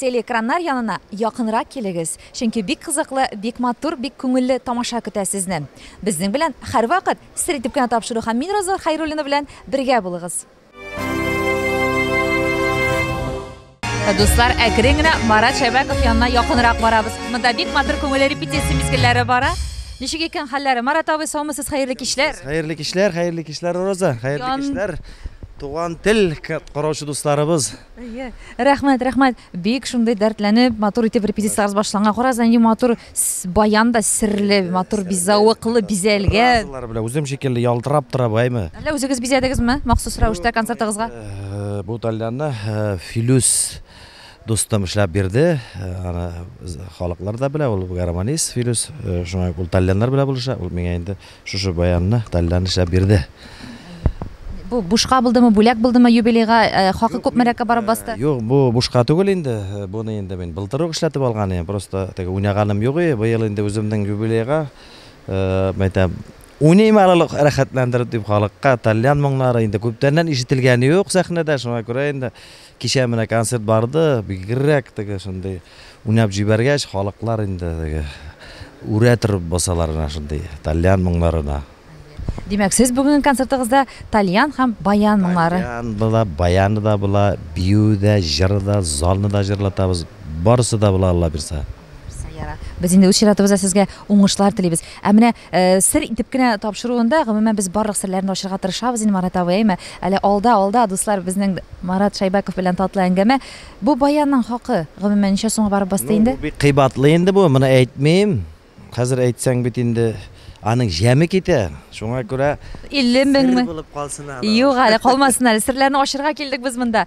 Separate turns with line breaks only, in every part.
Телеэкраннар янына якынрак килегез, чөнки бик кызыклы, бик матур, бик күңелле тамаша көтә сезне. Безнең белән һәрвакыт Сер итеп кенә тапшыру һәм мин Роза Хәйруллина белән бергә булыгыз. Дуслар, әкрен генә Марат Шәбәков янына якынрак барабыз. Монда бик матур күңелле репетиция мизгелләре бара. Ничек икән хәлләре? Марат абый, саумысыз, хәерле кичләр. Хәерле кичләр, хәерле кичләр, Роза. Хәерле кичләр, туган тел караучы дусларыбыз. Әйе, рәхмәт, рәхмәт. Бик шундый дәртләнеп, матур итеп репетициягез башланган. Карагыз, нинди матур с- баян да серле, матур би- зәвыклы бизәлгән. Фразалар белән үзем шикелле ялтырап тора бу, әйме? Әллә үзегез бизәдегезме махсус рәвештә концертыгызга? Э, Бу тальянны э, Филүс дустым эшләп бирде. Э, Аны з- халыклар да белә, ул гармонист Филүс. Э, Шуңа ул тальяннар белән булыша, ул миңа инде Шушы баянны Таллән эшләп бирде. Бу бушка булдымы, бүләк булдымы юбилейга? Хакы күпмерәккә барып басты? Юк, бу бушка түгел инде. Буны инде мин былтыр ук эшләтеп алган идем. Просто теге уйнаганым юк иде. Быел инде үземнең юбилейга, мәйтәм, уйныйм әле ул рәхәтләндереп дип халыкка. Таллән моңнары инде күптәннән ишетелгән юк сәхнәдә, шуңа күрә инде. Кичә менә концерт барды, бигрәк теге шундый уйнап җибәргәч, халыклар инде теге үрә торып басалар менә шундый тальян моңнарына. Димәк, сез бүгенге концертыгызда тальян һәм баян моңнары. Тальян була, баяны да була, бию дә, җыры да, залны да җырлатабыз. Барысы да була, Алла бирса. Без инде үз чиратыбызда сезгә уңышлар телибез. Ә менә Сер итеп кенә тапшыруында, гомумән, без барлык серләрне ачырга тырышабыз инде, Марат абый, әйме? Әле алда, алда, дуслар, безнең Марат Шәйбәков белән татлы әңгәмә. Бу баянның хакы, гомумән, ничә сумга барып басты инде? Ну, бу бик кыйбатлы инде бу, моны әйтмим. Хәзер әйтсәң бит инде аның җәме китә. Шуңа күрә 50 меңме? Сер булып калсын әле. Юк әле, калмасын әле. Серләрне ачырга килдек без монда.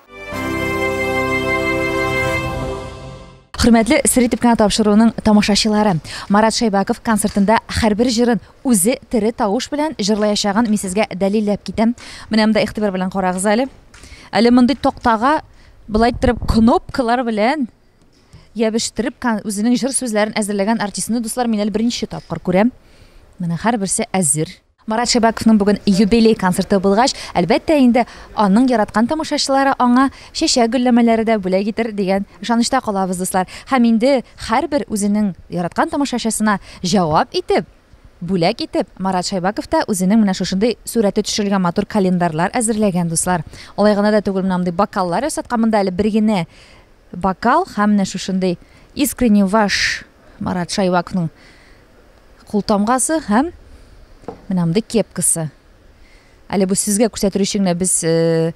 Хөрмәтле сер итеп кенә тапшыруның тамашачылары, Марат Шәйбаков концертында һәрбер җырын үзе тере тавыш белән җырлаячагын мин сезгә дәлилләп китәм. Менә монда игътибар белән карагыз әле. Әле мондый тактага былай иттереп кнопкалар белән ябештереп үзенең җыр сүзләрен әзерләгән артистны дуслар мин әле беренче тапкыр күрәм. Менә һәрберсе әзер. Марат Шәбәковның бүген юбилей концерты булгач, әлбәттә инде, аның яраткан тамашачылары аңа чәчәк-гөлләмәләре дә бүләк итер дигән ышанычта калабыз, дуслар. Һәм инде һәрбер үзенең яраткан тамашачысына җавап итеп, бүләк итеп, Марат Шәйбаков та үзенең менә шушындый сурәте төшерелгән матур календарлар әзерләгән, дуслар. Алай гына да түгел, менә мондый бокаллар ясаткан, монда әле бер генә бокал һәм менә шушындый Искренне ваш Марат Шәйбаковның култамгасы һәм менә мондый кепкасы. Әле бу сезгә күрсәтер өчен генә без э,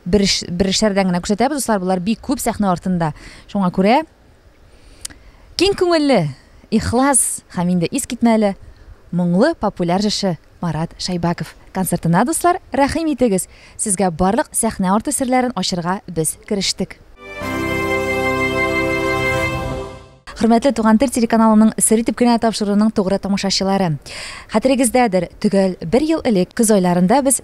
бер эш, бер эшләрдән генә күрсәтәбез, дуслар, болар бик күп сәхнә артында. Шуңа күрә киң күңелле, ихлас һәм инде ис китмәле моңлы популяр җырчы Марат Шайбаков концертына дуслар, рәхим итегез. Сезгә барлык сәхнә арты серләрен ачырга без керештек. Хөрмәтле Туган тел телеканалының Сер итеп кенә тапшыруының тугры тамашачылары. Хәтерегездәдер, төгәл бер ел элек көз айларында без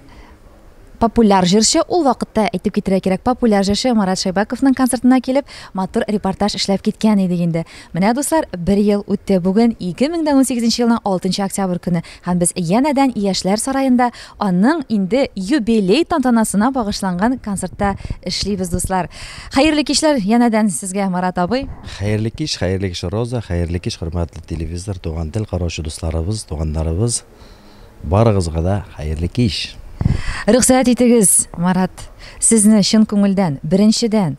популяр җырчы, ул вакытта әйтеп китерә кирәк, популяр җырчы Марат Шайбаковның концертына килеп, матур репортаж эшләп киткән идек инде. Менә, дуслар, бер ел үтте. Бүген 2018 елның 6 октябрь көне. Һәм без янәдән Яшьләр сараенда аның инде юбилей тантанасына багышланган концертта эшлибез, дуслар. Хәерле кичләр янәдән сезгә, Марат абый. Хәерле кич, хәерле кич, Роза, хәерле кич, хөрмәтле телевизор, туган тел караучы дусларыбыз, туганнарыбыз, барыгызга да хәерле кич! Рөхсәт итегез, Марат, сезне чын күңелдән, беренчедән,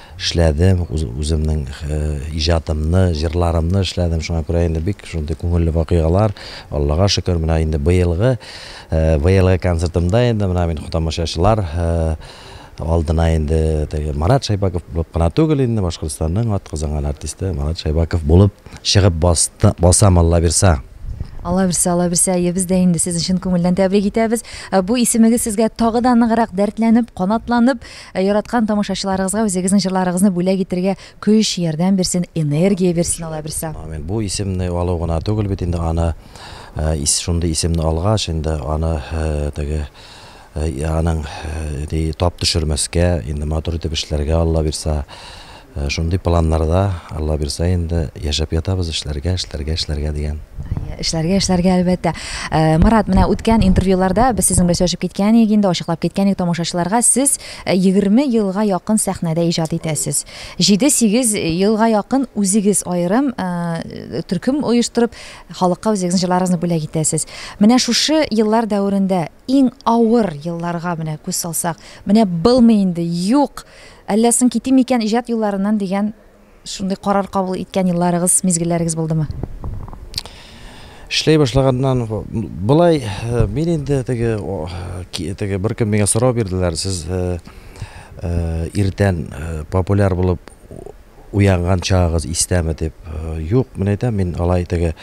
эшләдем, үземнең иҗатымны, җырларымны эшләдем. Шуңа күрә инде бик шундый күңелле вакыйгалар. Аллага шөкер, менә инде быелгы быелгы концертымда инде менә мин тамашачылар алдына инде теге Марат Шайбаков булып кына түгел инде, Башкортстанның атказанган артисты Марат Шайбаков булып чыгып басты, басам Алла бирса. Алла бирсә, Алла бирсә, әйе, без дә инде сезне чын күңелдән тәбрик итәбез. Бу исемегез сезгә тагы да ныграк дәртләнеп, канатланып, Ә яраткан тамашачыларыгызга үзегезнең җырларыгызны бүләк итергә көч, ярдәм бирсен, энергия бирсен Аллаһ берсе. Амин. Бу исемне алу гына түгел бит инде, аны шундый исемне алгач инде аны теге аның тап төшермәскә, инде матур итеп эшләргә Аллаһ бирса. Шундый планнарда, Алла бирсә инде, яшәп ятабыз, эшләргә, эшләргә, эшләргә дигән. Эшләргә, эшләргә, әлбәттә. Марат, менә үткән интервьюларда без сезнең белән сөйләшеп киткән идек инде, ачыклап киткән идек тамашачыларга, сез 20 елга якын сәхнәдә иҗат итәсез. Җиде-сигез елга якын үзегез аерым төркем оештырып, халыкка үзегезнең җырларыгызны бүләк итәсез. Менә шушы еллар дәверендә Иң авыр елларга менә күз салсак, менә былмый инде, юк! Әллә соң китим микән иҗат юлларыннан дигән шундый карар кабул иткән елларыгыз, мизгелләрегез булдымы? Эшләй башлаганнан болай мин инде теге теге беркем миңа сорау бирделәр, сез иртән популяр булып Уянган чагыгыз истәме? дип. Юк, мин әйтәм, мин алай теге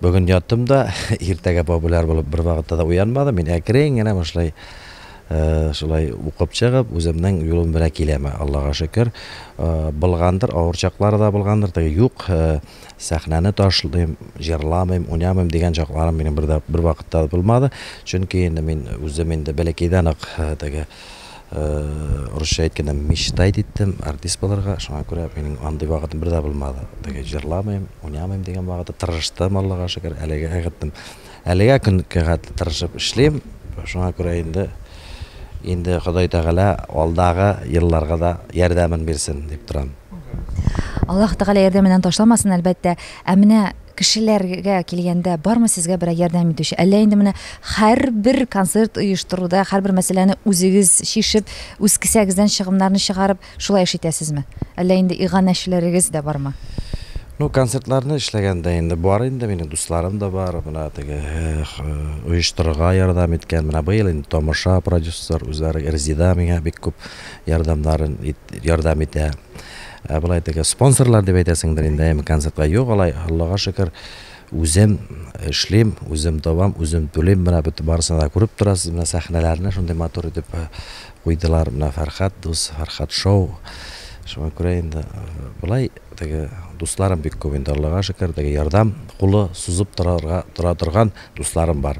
бүген яттым да, иртәгә популяр булып бервакытта да уянмадым. Мин әкрен генә башлай э, шулай укып чыгып, үземнең юлым белән киләм, Аллага шөкер. Э, Булгандыр, авыр чаклары да булгандыр, теге юк, э, сәхнәне ташлыйм, җырламыйм, уйнамыйм дигән чакларым минем бер дә бервакытта да булмады. Чөнки инде мин үзем инде бәләкәйдән үк э, теге Урысча әйткәндә мечтать иттем артист булырга, шуңа күрә минем андый вакытым бер дә булмады. Теге җырламыйм, уйнамыйм дигән вакыты тырыштым, Аллага шөкер, әлегә эгеттем. Әлегә көн кәгать тырышып эшлим, шуңа күрә инде инде Ходай Тәгалә алдагы елларга да ярдәмен бирсен дип торам. Аллаһ Тәгалә ярдәменнән ташламасын, әлбәттә. Ә менә Кешеләргә килгәндә, бармы сезгә берәр ярдәм итүче? Әллә инде менә һәрбер концерт оештыруда, һәрбер мәсьәләне үзегез чишеп, үз кесәгездән чыгымнарны чыгарып, шулай эш итәсезме? Әллә инде иганәчеләрегез дә бармы? Ну, концертларны эшләгәндә инде бар инде, минем дусларым да бар, менә теге оештырырга ярдәм иткән. Менә быел инде Тамаша продюсер үзләре Резида миңа бик күп ярдәмнарын ярдәм итә. Ә болай теге спонсорлар дип әйтәсеңдер инде, әйеме, концертка. Юк, алай, Аллага шөкер, үзем эшлим, үзем табам, үзем түлим, менә бөтен барысын да күреп торасыз, менә сәхнәләрне шундый матур итеп куйдылар, менә Фәрхәт дус, Фәрхәт шоу. Шуңа күрә инде болай теге дусларым бик күп инде, Аллага шөкер, теге ярдәм кулы сузып торарга тора торган дусларым бар.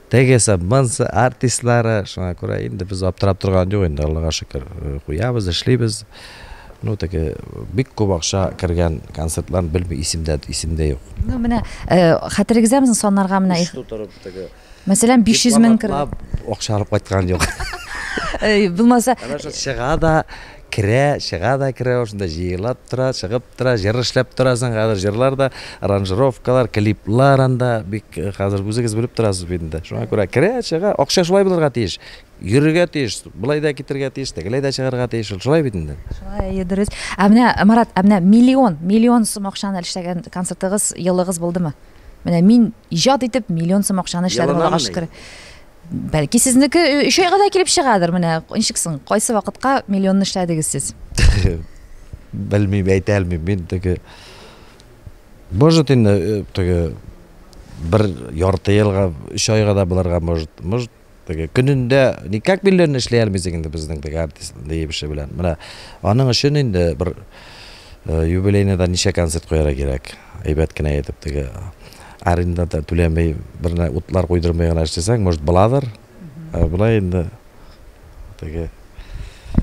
Теге саббансы артистлары, шуңа күрә инде без аптырап торган юк инде, Аллага шөкер, куябыз, эшлибез. Ну, теге бик күп акча кергән концертлар белми исемдә, исемдә юк. Ну, менә хәтерегездә безнең саннарга менә их. Тутырып теге. Мәсәлән, 500 мең кер. Акча алып кайткан юк. Булмаса. Чыга да Керә, чыга да керә ул шунда, җыела тора, чыгып тора, җыр эшләп торасың, хәзер җырлар да, аранжировкалар, клиплар анда бик хәзер үзегез белеп торасыз бит инде. Шуңа күрә керә, чыга, акча шулай булырга тиеш. Йөрергә тиеш, болай да китергә тиеш, тегеләй дә чыгарга тиеш, ул шулай бит инде. Шулай, әйе, дөрес. Ә менә, Марат, ә менә миллион, миллион сум акчаны эшләгән концертыгыз, елыгыз булдымы? Менә мин иҗат итеп миллион сум акчаны эшләдем, Аллага шөкер. Бәлки сезнеке өч айга да килеп чыгадыр менә ничек соң кайсы вакытка миллионны эшләдегез сез белмим әйтә алмыйм мин теге может инде э, теге бер ярты елга өч айга да булырга может может теге көнендә никак миллионны эшли алмыйсың инде безнең теге артист диебеше белән менә аның өчен инде бер э, юбилейныйда ничә концерт куярга кирәк әйбәт кенә итеп теге Аренда да түләмей, бернә утлар куйдырмый гына эшләсәң, может, буладыр. Ә болай инде теге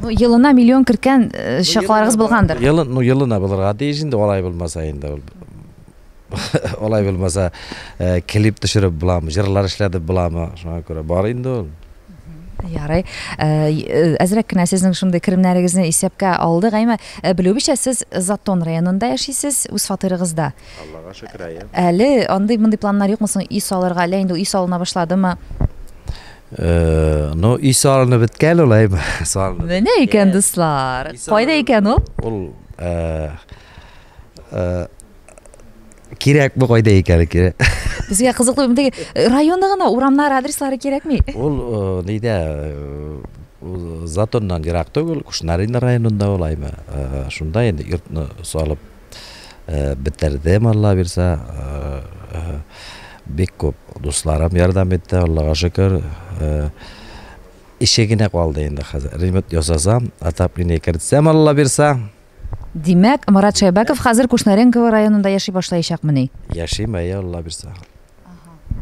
Ну, елына миллион керткән э, чакларыгыз булгандыр. Елы, ну, елына булырга тиеш инде, алай булмаса инде ул. Алай булмаса, э, клип төшереп буламы, җырлар эшләтеп буламы? Шуңа күрә бар инде ул. Ярый. Э, и- э, Әзрәк кенә сезнең шундый керемнәрегезне исәпкә алдык. Әмма э, белүебезчә, сез Затон районында яшисез, үз фатирыгызда. Аллага шөкер, әйе. Әле андый-мондый планнар юкмы соң өй салырга, әллә инде өй салына башладымы? Ну, өй салына беткән ул, әйе. Салына. Менә икән, дуслар. Кайда икән ул? Ул кирәк бу кайда икән кирәк. Безгә кызыклы бит. Районда гына урамнар адреслары кирәкми. Ул нидә? Затоннан ерак түгел, Кушнарина районында ул, әйе. Шунда инде йортны салып бетердем, Алла бирсә. Бик күп дусларым ярдәм итте, Аллага шөкер. Ише генә калды инде хәзер. Ремонт ясасам, отопление кертсәм, Алла бирсә. Димәк, Марат Шәйбәков хәзер Кушнаренково районында яши башлаячакмыни? Яшим, әйе, Алла бирсә.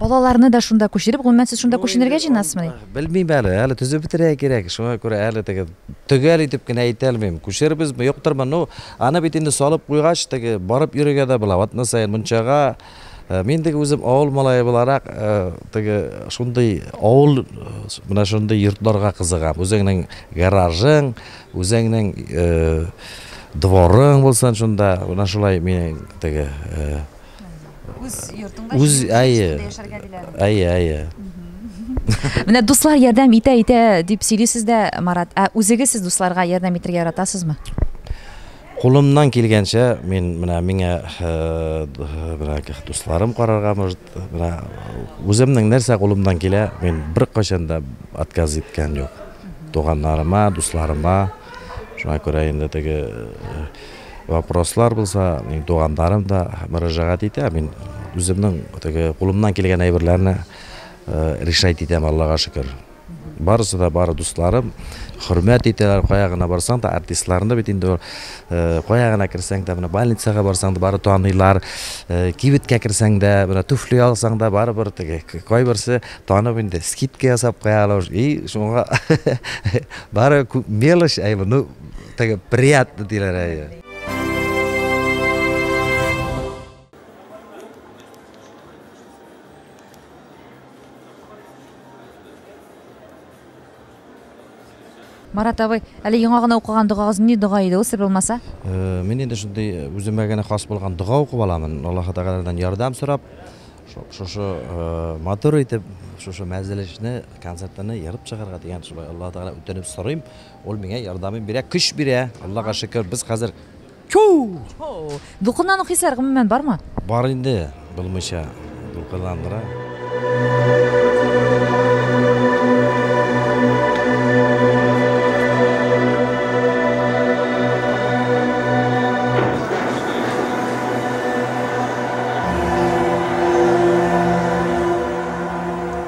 Балаларны да шунда күчереп, гомумән, сез шунда күченергә җыенасызмыни? Белмим әле, әле төзеп бетерергә кирәк, шуңа күрә әле теге төгәл итеп кенә әйтә алмыйм. Күчерербезме, юктырмы? Ну, аны бит инде салып куйгач, теге барып йөрергә дә була. Атна саен мунчага э, Мин теге үзем авыл малае буларак, э, теге шундый авыл э, менә шундый йортларга кызыгам. Үзеңнең гаражың, үзеңнең дворың булсын шунда. Менә шулай мин теге Үз йортыңда Үз, җиңел әйе. көнләшкәндә яшәргә диләр. Әйе, әйе. Менә дуслар ярдәм итә итә дип сөйлисез дә, Марат. Ә үзегез сез дусларга ярдәм итәргә яратасызмы? Кулымнан килгәнчә мин менә миңа э, д- менә к- дусларым карарга может менә үземнең нәрсә кулымнан килә, мин беркайчан да отказ иткән юк. Туганнарыма, дусларыма. Шуңа күрә инде теге э, Вопрослар булса, минем туганнарым да мөрәҗәгать итә. Мин үземнең теге кулымнан килгән әйберләрне решать итәм, Аллага шөкер. Барысы да бары дусларым, хөрмәт итәләр, кая гына барсаң да, артистларны бит инде кая гына керсәң дә, менә больницага барсаң да, бары таныйлар, кибеткә керсәң дә, менә туфли алсаң да, барыбер теге кайберсе танып инде, скидка ясап куялар. И, шуңа бары күп мелочь, әйбер, ну, Теге приятно диләр әйе. Марат абый, әле яңа гына укыган догагыз ни дога иде ул сер булмаса? Э, мин инде шундый э, үземә генә хас булган дога укып аламын. Аллаһ Тәгаләдән ярдәм сорап, шушы э, матур итеп, шушы мәҗлешне, концертны ярып чыгарга дигән шулай Аллаһ Тәгалә үтенеп сорыйм. Ул миңа ярдәмен бирә, көч бирә. Аллага шөкер, без хәзер чоу! Дулкынлану хисләре гомумән бармы? Бар инде, булмыйча дулкынландыра.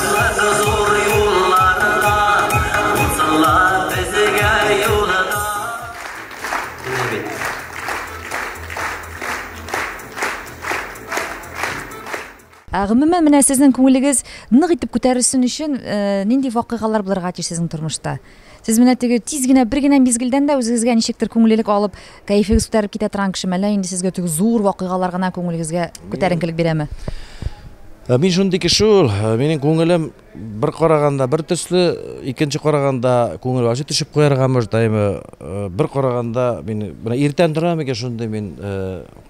Кызы зур юлларда, Узсынлар безгә юлда. Менә бит. Ә гомумән, менә сезнең күңелегез нык итеп күтәрелсен өчен, нинди вакыйгалар булырга тиеш сезнең тормышта? Сез менә теге тиз генә, бер генә мизгелдән дә үзегезгә ничектер күңеллелек алып, кәефегез күтәрелеп китә торган кешеме, әллә инде сезгә теге зур вакыйгалар гына күңелегезгә күтәренкелек бирәме? Ә мин шундый кеше ул, ә, минем күңелем бер караганда бер төсле, икенче караганда күңел ачы төшеп куярга мөҗтәйме, ә, бер караганда мин менә иртән торам микән шундый мин ә,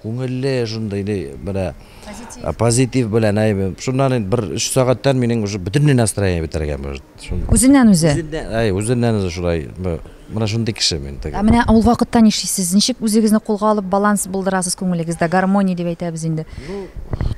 күңелле шундый ни, менә ә, позитив белән әйбер. Шуннан инде бер өч сәгатьтән минем уже бөтенләй настроение бетәргә мөҗ. Үзеннән үзе. Әй, үзеннән үзе шулай. Менә шундый кеше мин теге. Ә менә ул вакытта нишлисез? Ничек үзегезне кулга алып баланс булдырасыз күңелегездә? Гармония дип әйтәбез инде.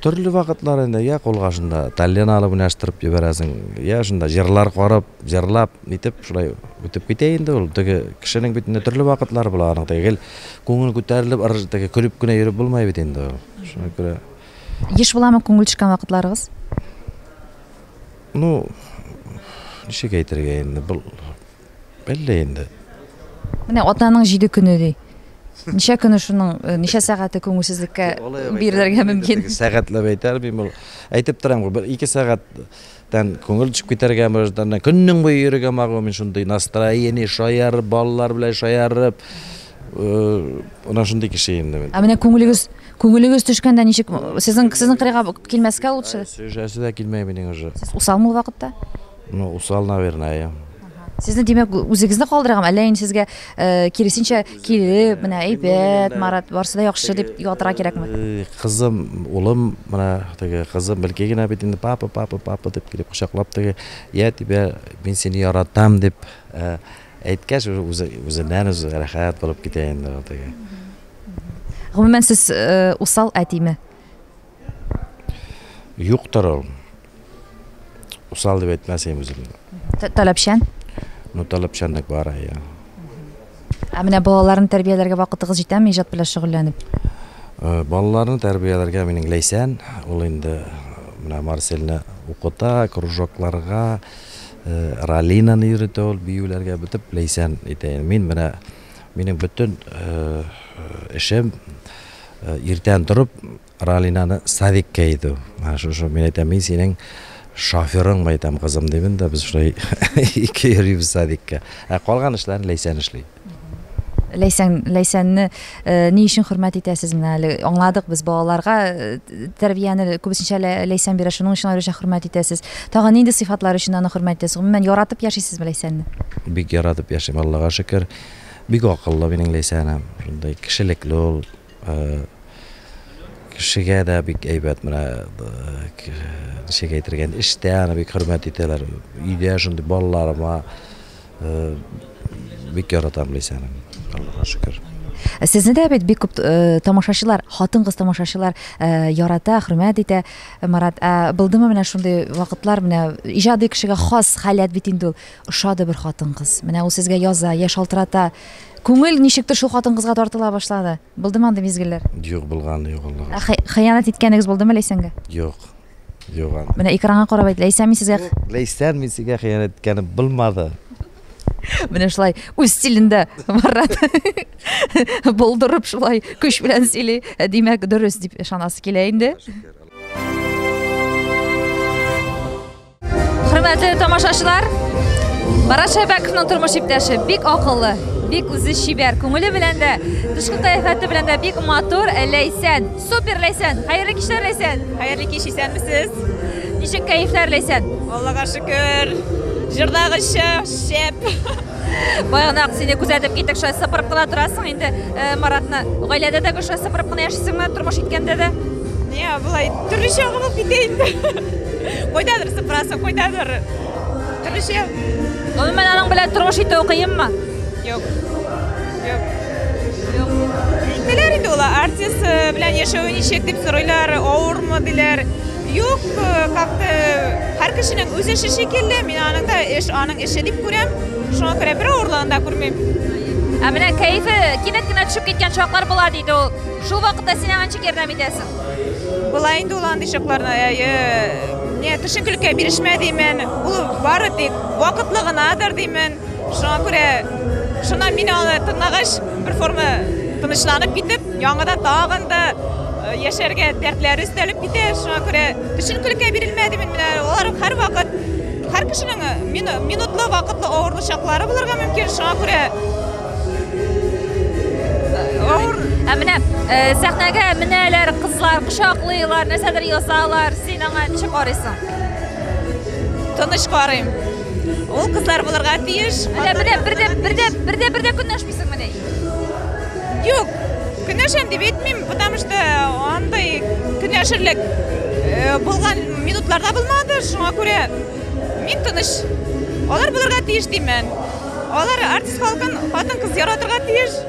Төрле вакытлар инде, я кулга шунда тәллен алып уйнаштырып җибәрәсең, я шунда җырлар карап, җырлап, нитеп шулай үтеп китә инде ул. Теге кешенең бит инде төрле вакытлары була аның. Теге гел күңел күтәрелеп, ырж теге көлеп кенә йөреп булмый бит инде ул. Шуңа күрә. Еш буламы күңел төшкән вакытларыгыз? Ну, ничек әйтергә инде, был әллә инде. Менә атаның җиде көне ди. Ничә көне шуның, э, ничә сәгате күңелсезлеккә бирелергә мөмкин? Сәгатьләп әйтәр бим ул. Әйтеп торам гы, бер ике сәгатьтән күңел төшеп китәргә мөрәҗәтәнә. Көннең буе йөрергә магы мин шундый настроение шаяр, балалар белән шаярып. Менә шундый кеше инде мин. Ә менә күңелегез, күңелегез төшкәндә ничек? Сезнең, сезнең кырыйга килмәскә лучше. Сөйләшәсе дә килмәй минең уже. Сез усалмы ул вакытта? Ну, усал, наверное. Сезне, димәк, үзегезне калдырган, әллә инде сезгә э, киресенчә килеп, менә әйбәт, Марат, барсы да яхшы дип ялтыра кирәкме? Э, Кызым, улым, менә теге кызым белки генә бит инде папа, папа, папа дип килеп кочаклап теге, я тебя, мин сине яратам дип э, Әйткәч, үзе үзеннән-үзе рәхәт булып китә инде ул теге. Гомумән, сез э, усал әтиме? Юктыр ул. Усал дип әйтмәс идем үземне. Т- Таләпчән. Ну, таләпчәнлек бар, я. Ә менә балаларны тәрбияләргә вакытыгыз җитәме иҗат белән шөгыльләнеп? Э, Балаларны тәрбияләргә минең Ләйсән, ул инде э, менә Марселне укыта, кружокларга, Раллинаны йөритә ул, биюләргә бөтеп ләйсән итә ин. Мин менә минем бөтен эшем иртән торып Раллинаны садикка иду. Менә шушы мин әйтәм, мин синең шоферың мәйтәм кызым дибен дә без шулай ике йөрибез садикка. Ә калган эшләрен Ләйсән эшли. Ләйсән Ләйсәнне ни өчен хөрмәт итәсез менә әле аңладык без балаларга тәрбияне күбесенчә Ләйсән бирә шуның өчен аеруча хөрмәт итәсез тагын нинди сыйфатлар өчен аны хөрмәт итәсез гомумән яратып яшисезме Ләйсәнне бик яратып яшим Аллага шөкер бик акыллы минем Ләйсәнем шундый кешелекле ул Кешегә дә бик әйбәт менә ничек әйтергә инде эштә аны бик хөрмәт итәләр. Өйдә шундый балаларыма бик яратам Ләйсәнең. Аллага шөкер. Сезне дә бит бик күп э, тамашачылар, хатын-кыз тамашачылар э, ярата, хөрмәт итә. Марат, ә булдымы менә шундый вакытлар, менә иҗади кешегә хас халәт бит инде ул. Ошады бер хатын-кыз. Менә ул сезгә яза, я шалтырата, Күңел ничектер шул хатын-кызга тартыла башлады. Булдымы андый мизгелләр? Юк, булганы юк Аллага. Ә хый- хыянәт иткәнегез булдымы Ләйсәнгә? Юк. Юк аны. Менә экранга карап әйт, Ләйсән мин сезгә Ләйсән мин сиңа хыянәт иткәнем булмады. менә шулай үз стилендә Марат булдырып шулай көч белән сөйли. Ә, Димәк, дөрес дип ышанасы килә инде. Хөрмәтле тамашачылар, Марат Шәбәковның тормыш иптәше бик акыллы, бик үзе чибәр, күңеле белән дә, тышкы кыяфәте белән дә бик матур, Ләйсән. Супер Ләйсән. Хәерле кичләр Ләйсән. Хәерле кич исәнмесез. Ничек кәефләр Ләйсән? Аллага шөкер. Җырдагыча шәп. Баягына сине күзәтеп киттек, шулай сыпырып кына торасың инде э, Маратны. Гаиләдә дә шулай сыпырып кына яшисеңме, тормыш иткәндә дә? Не, былай төрлечә булып китә инде. Кайдадыр сыпырасы, кайдадыр төрлечә. Гомумән аның белән тормыш итү кыенмы? Юк. Юк. Юк. Әйтәләр инде улар артист э, белән яшәве ничек дип сорыйлар, авырмы диләр. Юк, э, как-то һәр кешенең үз эше шикелле, мин аның да эш, аның эше дип күрәм. Шуңа күрә бер авырлыгын да күрмим. Ә менә кәефе кинәт кенә төшеп киткән чаклар була диде ул. Шул вакытта син аңа ничек ярдәм итәсең? Болай инде ул андый чакларда не төшенкелеккә бирешмә димен. Ул бары тик вакытлы гынадыр димен. Шуңа күрә шуннан мин аны тыңлагач, бер форма тынычланып китеп, яңада тагын да э, яшәргә дәртләре өстәлеп китә. Шуңа күрә төшенкелеккә бирелмә димен. Менә алар һәрвакыт һәр кешенең э, минутлы вакытлы авырлы чаклары булырга мөмкин. Шуңа күрә Ә менә э, сәхнәгә менәләр кызлар, кочаклыйлар, нәрсәдер язалар. Син аңа ничек карыйсың? Тыныш карыйм. Ул кызлар булырга тиеш. Менә менә бердә бердә бердә бердә көнләшмисең менә. Юк. Көнләшәм дип әйтмим, потому что андый көнләшерлек э, булган минутларда булмады. Шуңа күрә мин тыныч. Алар булырга тиеш димән. Алар артист халкын хатын-кыз яратырга тиеш.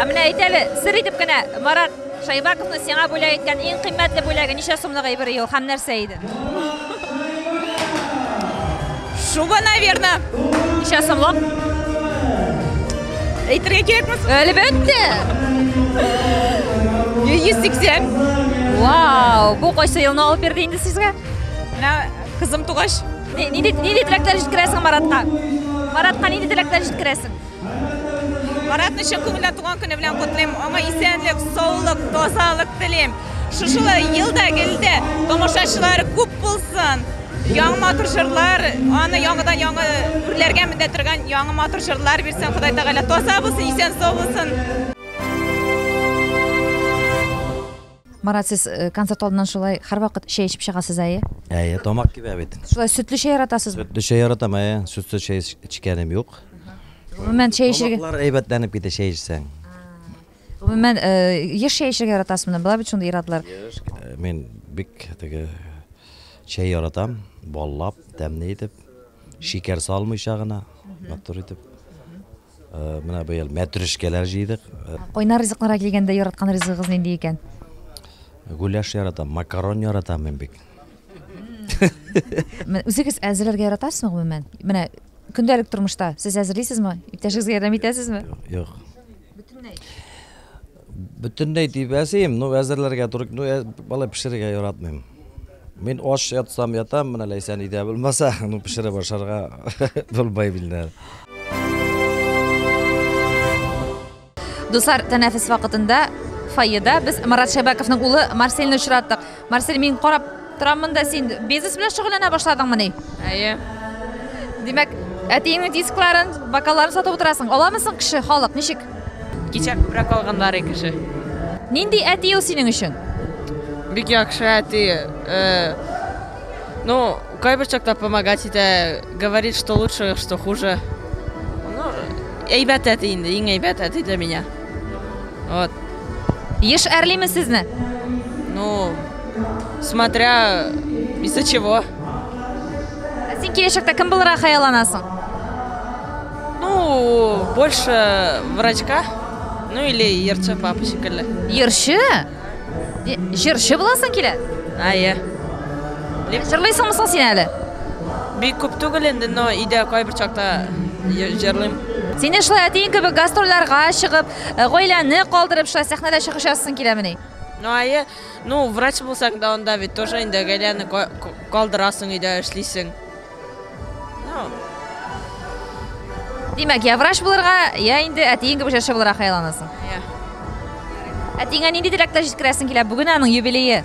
Ә менә әйт әле, сер итеп кенә, Марат Шайбаковны сиңа бүләк иткән иң кыйммәтле бүләге ничә сумлык әйбер ел һәм нәрсә иде? Шуба, наверное. Ничә сумлык? Әйтергә кирәкме? Әлбәттә. 180. Вау, бу кайсы елны алып бирде инде сезгә? Менә кызым тугач. Нинди нинди теләкләр җиткерәсең Маратка? Маратка нинди теләкләр җиткерәсең? Маратны чын күңелдән туган көне белән котлыйм. Аңа исәнлек, саулык, тазалык телим. Шушы елда гелдә тамашачылар күп булсын. Яңа матур җырлар, аны яңадан яңа үрләргә мендә торган яңа матур җырлар бирсен Ходай Тәгалә. Таза булсын, исән сау булсын. Марат, сез э, концерт алдыннан шулай һәрвакыт чәй эчеп чыгасыз әйе? Әйе, тамак кибә бит. Шулай сөтле чәй яратасызмы? Сөтле чәй яратам, әйе. Сөтсез чәй эчкәнем юк. Гомумән чәй эчәргә Тамаклар әйбәтләнеп китә чәй эчсәң. Гомумән э, еш чәй эчәргә яратасызмы? Була бит шундый иратлар. Э, Мин бик теге чәй яратам, баллап, тәмле итеп, шикәр салмыйча гына, матур итеп. Менә быел мәтрүшкәләр җыйдык. Кайнар ризыкларга килгәндә, яраткан ризыгыгыз нинди икән? Гуляш яратам, макарон яратам мин бик. Үзегез әзерләргә яратасызмы гомумән? Менә көндәлек тормышта сез әзерлисезме? Иптәшегезгә ярдәм итәсезме? Юк. Бөтенләй. Бөтенләй дип әзим, ну әзерләргә туры, ну балай пешерергә яратмыйм. Мин аш ятсам ятам, менә Ләйсән идә булмаса, ну пешереп ашарга булмай бинде. Дуслар, тәнәфес вакытында фойеда без Марат Шәбәковның улы Марсельны очраттык. Марсель, мин карап тораммын да, син бизнес белән шөгыльләнә башладыңмыни? Әйе. Димәк, әтиеңнең дискларын, бокалларын сатып утырасың. Аламы соң кеше, халык, ничек? Кичә күбрәк алганнар кеше. Нинди әти ул синең өчен? Бик яхшы әти. Э, ну, кайбер чакта помогать итә, говорит, что лучше, что хуже. Ну, әйбәт әти инде, иң әйбәт әти для меня. Вот. Еш әрлиме сезне? Ну, смотря из-за чего. Син киләчәктә кем булырга хыялланасың? Ну, больше врачка. Ну или ерчы папа шикелле. Ерчы? Җырчы буласың килә? Әйе. Җырлыйсыңмы соң син әле? Бик күп түгел инде, но өйдә кайбер чакта җырлыйм. Сине шулай әтиең кебек гастрольләргә чыгып, Э, гаиләне калдырып шулай сәхнәдә чыгыш ясасың киләмени? Ну, ае, ну, врач булсаң да анда бит тоже инде гаиләне ка- ка- калдырасың, өйдә эшлисең. Ну, Димәк, я врач булырга, я инде әтиең кебек җырчы булырга хыялланасың. я. Әтиеңә нинди теләкләр җиткерәсең килә? Бүген аның юбилее.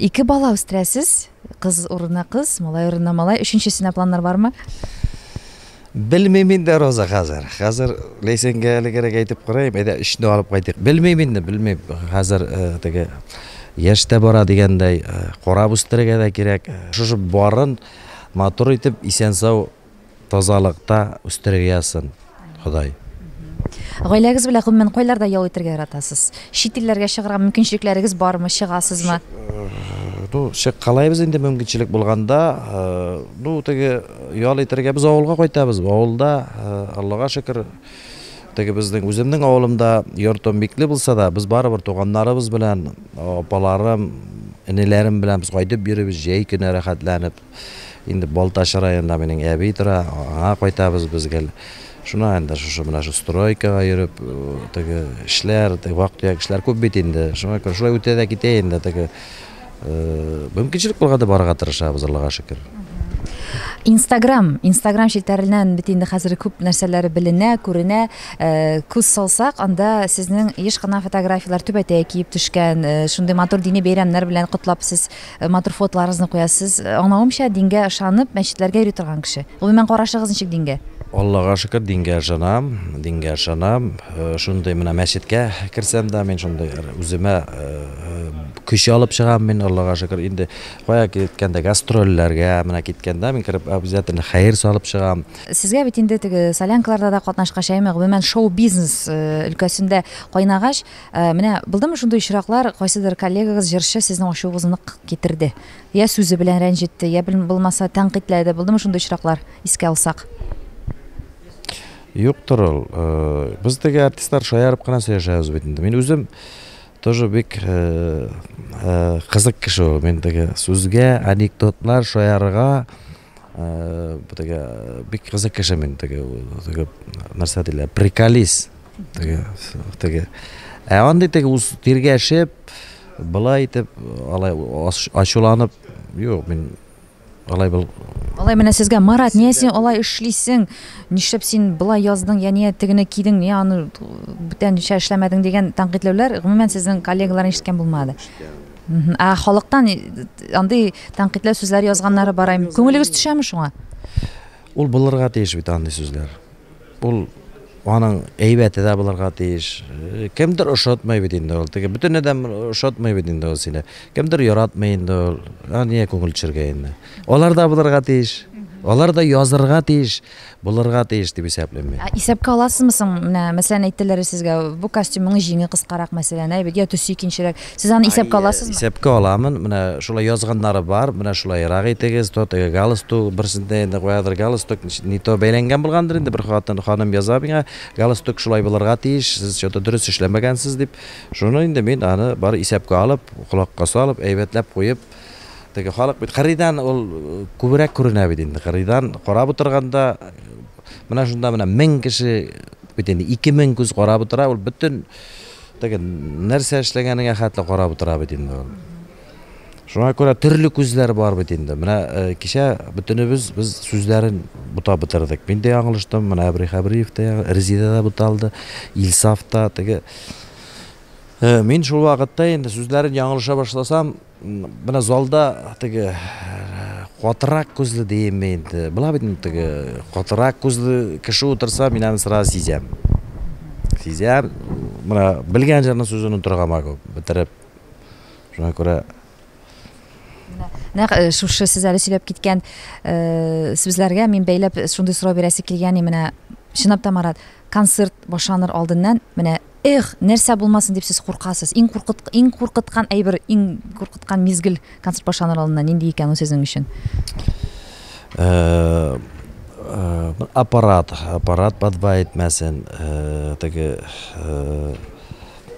Ике бала үстерәсез, кыз урынына кыз, малай урынына малай. Өченчесенә планнар бармы? Белмим инде, Роза, хәзер. Хәзер Ләйсәнгә әлегәрәк әйтеп карыйм, әйдә өчне алып кайтыйк. Белмим инде, белмим. Хәзер э, теге яшь тә бара дигәндәй, э, карап үстерергә дә кирәк. Шушы барын матур итеп исән-сау Тазалыкта үстерергә язсын Ходай. Гаиләгез белән гомумән кайларда ял итәргә яратасыз? Чит илләргә чыгарга мөмкинчелекләрегез бармы, чыгасызмы? Ну, чыккалайбыз инде мөмкинчелек булганда. Ну, теге ял итәргә без авылга кайтабыз. Авылда, Аллага шөкер, теге безнең үземнең авылымда йортым бикле булса да, без барыбер туганнарыбыз белән, апаларым, энеләрем белән без кайтып йөрибез, җәй көне рәхәтләнеп. Инде Балтач районында минең әби тора, аңа кайтабыз без гел. Шуна инде шушы менә шу стройкага йөреп, теге эшләр, теге вак-төяк эшләр күп бит инде. Шуңа күрә шулай үтә дә китә инде теге. Мөмкинчелек булганда барырга тырышабыз, Аллага шөкер. Инстаграм, Инстаграм челтәреннән бит инде хәзер күп нәрсәләр беленә, күренә. Э, күз салсак, анда сезнең еш кына фотографияләр түбәтәе киеп төшкән, э, шундый матур дини бәйрәмнәр белән котлап сез Э, матур фотоларыгызны куясыз. Э, аңлавымча, дингә ышанып, мәчетләргә йөри торган кеше. Гомумән карашыгыз ничек дингә? Аллага шөкер, дингә ышанам, дингә ышанам. Э, шундый менә мәчеткә керсәм дә, мин шундый үземә көч алып чыгам мин, Аллага шөкер. Инде кая киткәндә гастрольләргә менә киткәндә мин кереп обязательно хәер салып чыгам. Сезгә бит инде теге солянкаларда да катнашкач, әйме, гомумән шоу-бизнес өлкәсендә кайнагач, Менә булдымы шундый очраклар, кайсыдыр коллегагыз, җырчы сезнең ачуыгызны нык китерде? Я сүзе белән рәнҗетте, я булмаса тәнкыйтьләде, булдымы шундый очраклар, искә алсак? Юктыр ул. Без теге артистлар шаярып кына сөйләшәбез бит инде. Мин үзем тоже бик кызык кеше ул. Мин теге сүзгә, анекдотлар шаярырга, Битеге бик кызык кеше мин теге теге нәрсә диләр, приколист. Теге теге. Ә андый теге үз тиргәшеп, былай итеп, алай ачуланып, юк, мин алай бул. Алай менә сезгә Марат, нигә син алай эшлисең? Нишләп син былай яздың, я нигә тегене кидең, нигә аны бүтәнчә эшләмәдең дигән тәнкыйтьләүләр гомумән сезнең коллегаларны ишеткән булмады. Ә халыктан андый тәнкыйтьле сүзләр язганнары бар им. Күңелегез төшәме шуңа? Ул булырга тиеш бит андый сүзләр. Ул аның әйбәте дә булырга тиеш. Э, кемдер ошатмый бит инде ул. Теге бөтен адәм ошатмый бит инде ул сине. Кемдер яратмый инде ул. Ә нигә күңел төшергә инде? Алар да булырга тиеш. Алар да язырга тиеш. Булырга тиеш дип исәплим мин. Ә исәпкә аласызмы соң, менә, мәсәлән, әйттеләр сезгә, бу костюмның җиңе кыскарак, мәсәлән, әйбит, я төсе икенчерәк. Сез аны исәпкә аласызмы? Исәпкә аламын. Менә шулай язганнары бар, менә шулайрак итегез, то теге галстук, берсендә инде каядыр галстук не то бәйләнгән булгандыр инде, бер хатын, ханым яза миңа, галстук шулай булырга тиеш, сез чё-то дөрес эшләмәгәнсез дип. Шуны инде мин аны бар исәпкә алып, колакка салып, әйбәтләп куеп, Теге халык бит кырыйдан ул күбрәк күренә бит инде. Кырыйдан карап утырганда менә шунда менә 1000 кеше бит инде 2000 күз карап утыра, ул бөтен теге нәрсә эшләгәнеңә хәтле карап утыра бит инде ул. Шуңа күрә төрле күзләр бар бит инде. Менә э, кичә бөтенебез без сүзләрен бута бетердек. Мин дә яңлыштым, менә Әбри Хәбриев та, Резида да буталды, Илсаф та, теге Э, мин шул вакытта инде сүзләрен яңылыша башласам, менә залда теге катырак күзле димме инде. Була бит инде теге катырак күзле кеше утырса, мин аны сразу сизәм. Сизәм, менә белгән җырның сүзен утырга могу бетереп. Шуңа күрә Нәкъ э, шушы сез әле сөйләп киткән э, сүзләргә мин бәйләп шундый сорау бирәсе килгән, менә чынлап та Марат, концерт башланыр алдыннан менә Эх, нәрсә булмасын дип сез куркасыз? Иң куркыт, иң куркыткан әйбер, иң куркыткан мизгел концерт башланыр алдыннан нинди икән ул сезнең өчен? Э, э, аппарат, аппарат подба итмәсен, э, теге э,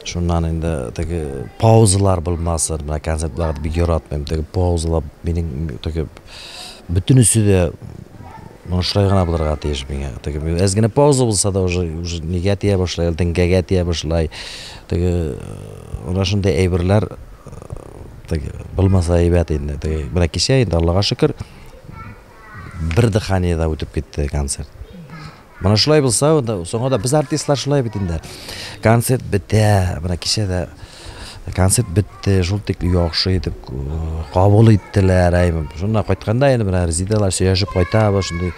шуннан инде теге паузалар булмасын. Менә концертларда бик яратмыйм. Теге паузалар минем теге Бөтенесе дә ну, шулай гына булырга тиеш миңа. Теге әз генә пауза булса да уже уже нигә тия башлай, теңгәгә тия башлай. Теге ана шундый әйберләр теге булмаса әйбәт инде. Теге менә кичә инде Аллага шөкер бер дыханиедә үтеп китте концерт. Менә шулай булса, соңга да без артистлар шулай бит инде. Концерт бетә, менә кичә дә концерт бетте, шул тик яхшы итеп кабул иттеләр. Шуннан кайтканда инде менә Резидалар сөйләшеп кайтабыз, шундый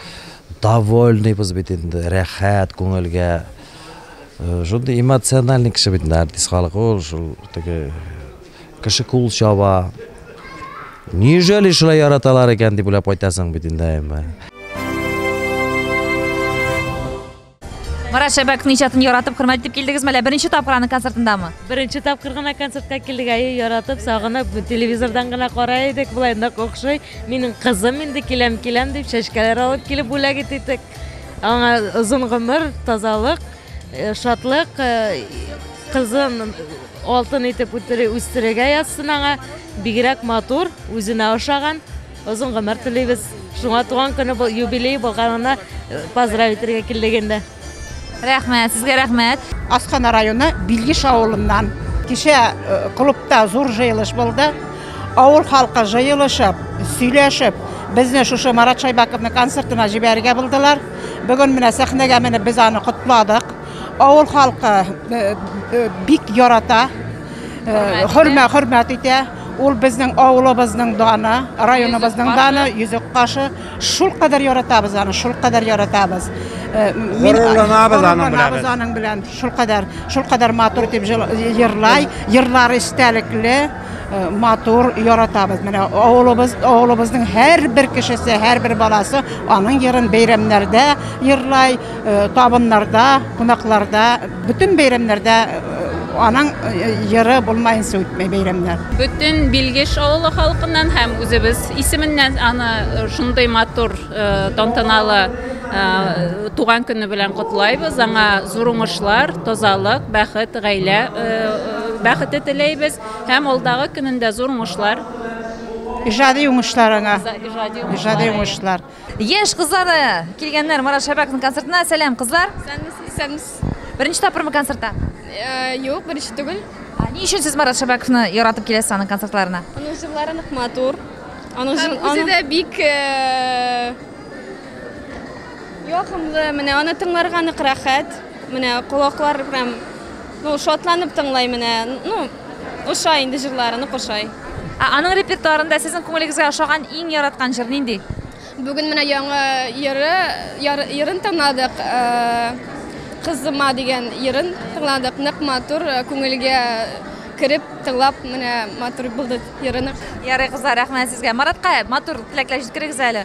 довольныйбыз бит инде, рәхәт күңелгә. Шундый эмоциональный кеше бит инде артист халык ул, шул теге Кеше кул чаба. Неужели шулай яраталар икән дип уйлап кайтасың бит инде. Марат Шәбәк иҗатын яратып, хөрмәт итеп килдегезме, әллә беренче тапкыр аның концертындамы? Беренче тапкыр гына концертка килдек, әйе, яратып, сагынып, телевизордан гына карай идек, болай нык охшый. Минем кызым инде киләм, киләм дип чәчкәләр алып килеп бүләк итте. Аңа озын гомер, тазалык. Э, шатлык э, кызын алтын итеп үстерергә язсын аңа бигрәк матур үзенә ошаган озын гомер телибез шуңа туган көне юбилей булганына э, поздравить итәргә килдек инде рәхмәт сезгә рәхмәт асхана районы билгиш авылыннан кичә клубта зур җыелыш булды авыл халкы җыелышып сөйләшеп безне шушы марат шайбаковның концертына җибәрергә булдылар Бүген менә сәхнәгә менеп без аны котладык. Авыл халкы э, э, бик ярата, э, хөрмәт хөрмәт итә. Ул безнең авылыбызның даны, районыбызның даны, йөзек кашы. Шул кадәр яратабыз аны, шул кадәр яратабыз. Горурланабыз аның белән. Без аның белән шул кадәр, шул кадәр матур дип җырлай, җырлары истәлекле. Э, матур яратабыз менә авылыбыз авылыбызның һәрбер кешесе һәрбер баласы аның йырын бәйрәмнәрдә йырлай э, табыннарда кунакларда бөтен бәйрәмнәрдә э, аның йыры булмаенча үтмәй бәйрәмнәр бөтен билгеш авылы халкыннан һәм үзебез исеменнән аны шундый матур тантаналы туган көне белән котлайбыз аңа зур уңышлар тазалык бәхет гаилә Бәхете теләйбез һәм алдагы көнендә зур уңышлар. Иҗади уңышлар аңа. Иҗади уңышлар. Яшь кызлары килгәннәр Марат Шәбәковның концертына. Сәлам, кызлар! Исәнмесез, исәнмесез. Беренче тапкырмы концертта? Юк, беренче түгел. Ни өчен сез Марат Шәбәковны яратып киләсез аның концертларына? Аның җырлары нык матур. Аның җыр, аның... Үзе дә бик якымлы, менә аны тыңларга нык рәхәт. Менә колаклар прям Ну, шатланып тыңлай менә. Ну, ошай инде җырларыны кошай. Ә аның репертуарында сезнең күңелегезгә ошаган иң яраткан җыр нинди? Бүген менә яңа йыры, яр, йырын тыңладык. Э, Кызыма дигән йырын тыңладык. Нык матур, э, күңелгә кереп тыңлап менә матур булды йырынык. Ярый, кызлар, рәхмәт сезгә. Маратка матур теләкләр җиткерегез әле.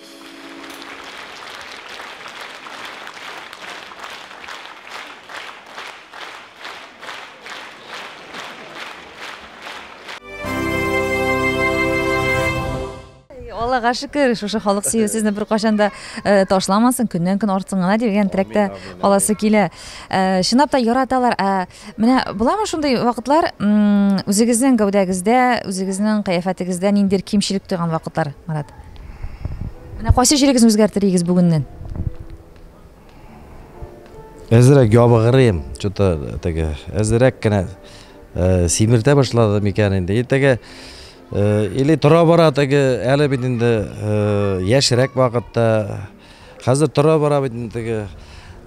аллага шөкер шушы халык сөю сезне беркайчан да э, ташламасын көннән көн артсын гына дигән теләктә каласы килә э, чынлап та яраталар ә Менә буламы шундый вакытлар, м, үзегезнең гәүдәгездә, үзегезнең кыяфәтегездә ниндидер кимчелек тойган вакытлар, Марат? Менә кайсы җирегезне үзгәртер идегез бүгеннән? Әзерәк ябыгырыйм, что-то теге, әзерәк кенә э, симертә башлады микән инде. И теге э, или тора-бара теге әле бит инде э, яшьрәк вакытта Хәзер тора-бара бит инде теге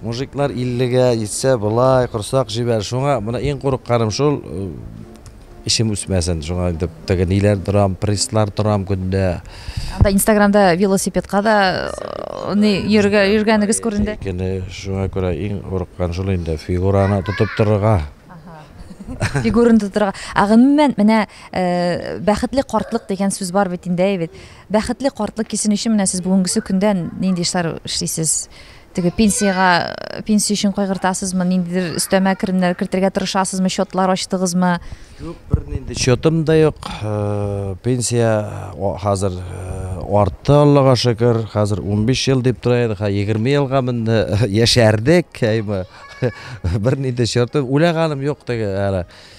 мужиклар иллегә җитсә, болай корсак җибәрер. Шуңа менә иң курыкканым шул, эчем үсмәсен. Шуңа инде теге ниләр торам, пресслар торам көндә. Анда Инстаграмда велосипедка да ни йөргә йөргәнегез күренде. Көне шуңа күрә иң курыккан шул инде, фигураны тотып торырга. Фигураны тотырга. Ә гомумән, менә бәхетле картлык дигән сүз бар бит инде, әй бит. Бәхетле картлык кисен өчен менә сез бүгенгесе көндә нинди эшләр эшлисез? Теге пенсиягә, пенсия өчен кайгыртасызмы, ниндидер өстәмә керемнәр кертергә тырышасызмы, счетлар ачтыгызмы? Юк, бернинди счетым да юк. Пенсия хәзер артты, Аллага шөкер. Хәзер 15 ел дип тора иде, 20 елга менде, яшәрдек, әйме. Бернинди счетым, уйлаганым юк теге әле.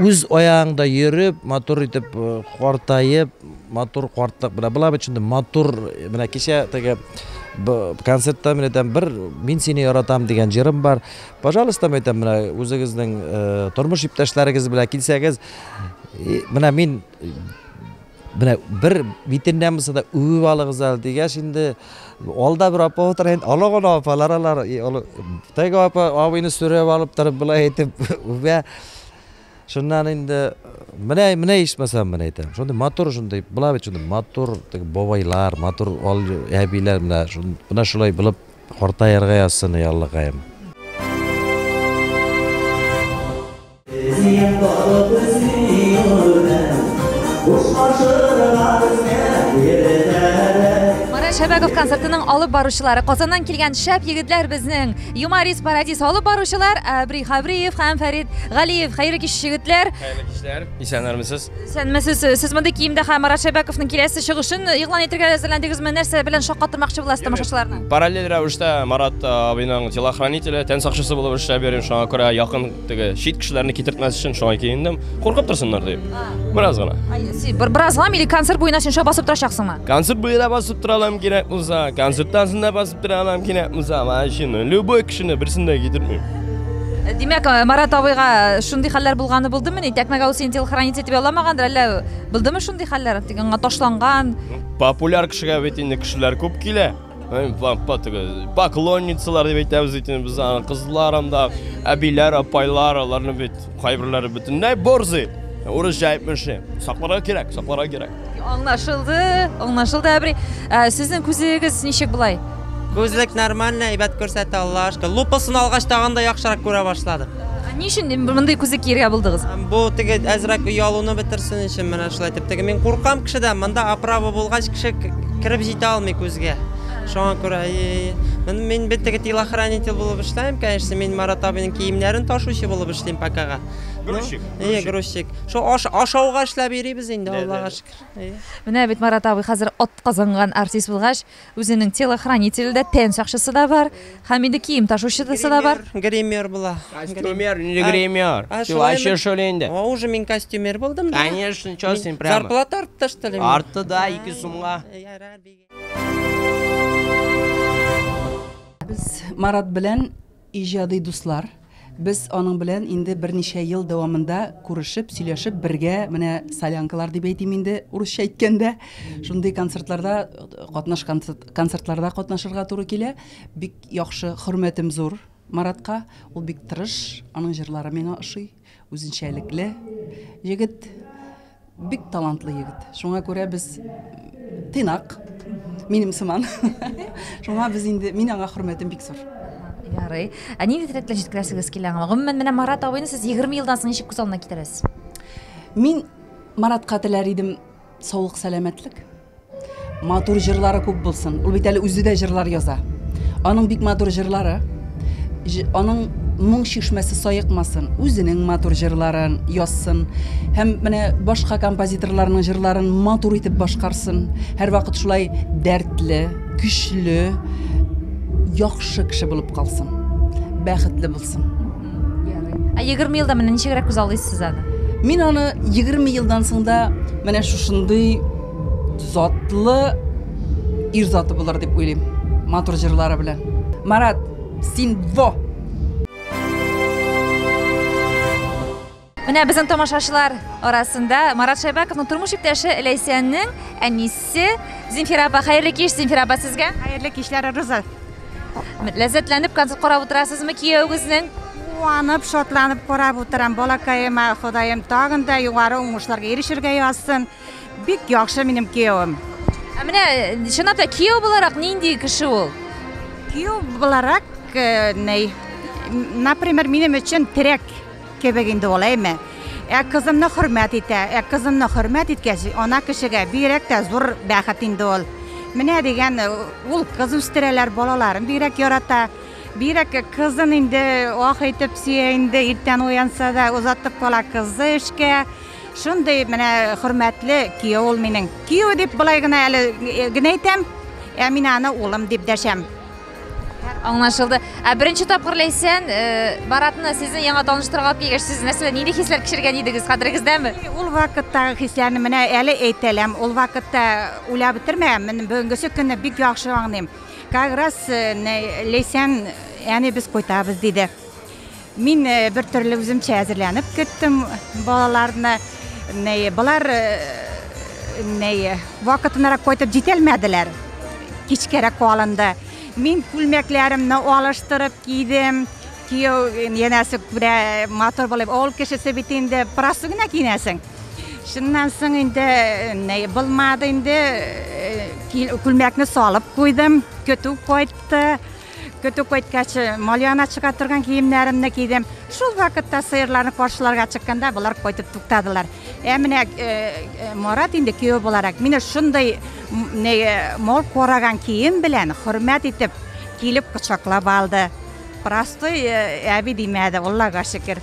үз аягыңда йөреп, матур итеп э, картаеп, матур картлык белән була бит шундый матур э, менә кичә теге концертта мен әйтәм бер мин сине яратам дигән җырым бар пожалуйста мен әйтәм менә үзегезнең э, тормыш иптәшләрегез белән килсәгез менә мин Менә бер битендә булса да үбеп алыгыз әле дигәч инде алда бер апа утыра инде олы гына апалар алар теге апа абыйны сөреп алып торып болай әйтеп үбә шуннан инде менә менә ичмасам менә әйтәм шундый матур шундый була бит шундый матур теге бабайлар матур әбиләр менә менә шулай булып картаерга язсын ей аллакаем Мара Шәбәгов концертының алып баручылары Казаннан килгән шәп егетләр безнең Юмарис Парадис алып баручылар Әбри Хабриев һәм Фәрид Галиев. Хәерле кич егетләр. Хәерле кичләр. Исәннәрмесез? Исәнмесез. Сез мондый киемдә һәм Марат Шәбәковның киләсе чыгышын игълан итәргә әзерләндегезме? Нәрсә белән шаккатырмакчы буласыз тамашачыларны? Параллель рәвештә Марат абыйның телохранителе, тән сакчысы булып эшләп йөрим, шуңа күрә якын Теге чит кешеләрне китертмәс өчен шулай киендем. Куркып торсыннар дип. Бераз гына. Бер бераз гына или концерт буена шунша басып торачаксыңмы? Концерт буена басып тора алам кирәк булса, концерттан соң да басып тора алам кирәк булса, машина. Любой кешене берсен дә китертмим. Э, димәк, э, Марат абыйга э, шундый хәлләр булганы булдымы? Ни тәкмәгә ул син телохранец итеп ялламагандыр, әллә булдымы шундый хәлләр? Тик аңа ташланган. Популяр кешегә бит инде кешеләр күп килә. Поклонницалар дип әйтәбез бит инде без аны. Кызлар анда, әбиләр, апайлар, аларны бит кайберләре бөтенләй борзый. Урысча әйтмешли. Сакларга кирәк, сакларга кирәк. Аңлашылды, аңлашылды, әбри. Ә, Сезнең күзегез ничек болай? Күзлек нормально, әйбәт күрсәтә, Аллаһушка. Лупасын алгач тагын да яхшырак күрә башладым. Ни өчен мондый күзлек киергә булдыгыз? Бу теге әзрәк оялуны бетерсен өчен менә шулай итеп. Теге мин куркам кешедән, монда оправа булгач кеше кереп җитә алмый күзгә. Шуңа күрә мин мин бит теге телохранитель булып эшләмим, конечно, мин Марат абыйның киемнәрен ташучы булып эшлим покага. Грузчик. Ие, грузчик. Шул ашауга эшләп йөрибез инде, Аллага шөкер. Менә бит Марат абый хәзер атказанган артист булгач, Үзенең телохранителе дә, тән сакчысы да бар, һәм инде кием ташучысы да бар. Гример була. Костюмер, инде гример. Чулайчы шул инде. О, уже мин костюмер булдым. Конечно, что с ним прямо. Зарплата артты, что ли? Артты, да, ике сумга. Без Марат белән Иҗади дуслар, без аның белән инде берничә ел дәвамында күрешеп, сөйләшеп, бергә менә солянкалар дип әйтим инде, урысча әйткәндә, шундый концертларда катнаш концертларда катнашырга туры килә. Бик яхшы, хөрмәтем зур Маратка. Ул бик тырыш, аның җырлары миңа ошый. Үзенчәлекле егет, бик талантлы егет. Шуңа күрә без тыйнак, минем сыман. Шуңа без инде, мин аңа хөрмәтем бик зур. Ярый. Ә ни дип рәтләп җиткерәсегез килә аңа? Гомумән, менә Марат абыйны сез 20 елдан соң ничек күз алдына китерәсез? Мин Маратка теләр идем, Саулык сәламәтлек. Матур җырлары күп булсын. Ул бит әле үзе дә җырлар яза. Аның бик матур җырлары. Аның моң чишмәсе саекмасын, үзенең матур җырларын язсын. Һәм менә башка композиторларның җырларын матур итеп башкарсын. Һәрвакыт шулай дәртле, көчле, яхшы кеше булып калсын. Бәхетле булсын. ярый. Ә 20 елда менә ничегрәк күз алдыйсыз аны? Мин аны 20 елдан соң да менә шушындый затлы ир заты булыр дип уйлыйм. Матур җырлары белән. Марат, син во! Менә безнең тамашачылар арасында Марат Шәйбәковның тормыш иптәше Ләйсәннең әнисе Зинфира апа. Хәерле кич, Зинфира апа, сезгә. Хәерле кичләр, Руза. Ләззәтләнеп концерт карап утырасызмы кияүгезнең? Куанып, шатланып карап утырам. Балакаема Ходаем тагын да югары уңышларга ирешергә язсын. Бик яхшы минем кияүем. Ә менә э, чынлап та кияү буларак нинди кеше ул? Кияү буларак, э, ней, например, минем өчен терәк Кебек инде ул, әйме? Ә кызымны хөрмәт итә. Ә кызымны хөрмәт иткәч, ана кешегә бигрәк тә зур бәхет инде ул. Менә дигән ул кыз үстерәләр, балаларын бигрәк ярата. Бигрәк кызын инде ах итеп сөя инде, иртән уянса да, озатып кала кызы эшкә. Шундый менә хөрмәтле кияү ул минем. Кияү дип болай гына әле генә әйтәм, ә мин аны улым дип дәшәм. Аңлашылды. Ә беренче тапкыр Ләйсән э, Баратны сезне яңа таныштырырга алып килгәч, сез нәрсә, нинди хисләр кичергән идегез? Хәтерегездәме? Ул вакыттагы хисләрне менә әле әйтәләм. Ул вакытта уйлап бетермәгән. Мен бүгенгесе көнне бик яхшы аңлыйм. Как раз э, не- Ләйсән әни без кайтабыз диде. Мин бер төрле үземчә әзерләнеп кеттем балаларны. Болар вакытынарак кайтып җитәлмәделәр. Кичкәрәк калынды. Мин күлмәкләремне алыштырып кидем. Кияү янәсе күрә матур булып, авыл кешесе бит инде просто гына киенәсең. Шуннан соң инде не булмады инде күлмәкне салып куйдым, көтү кайтты. Көтү кайткач, Малиана чыга торган киемнәремне кидем. Шул вакытта сыерларны каршыларга чыкканда болар кайтып туктадылар. Ә менә Марат инде кияү буларак мине шундый мол караган кием белән хөрмәт итеп килеп кочаклап алды. Простой әби димәде, Аллага шөкер.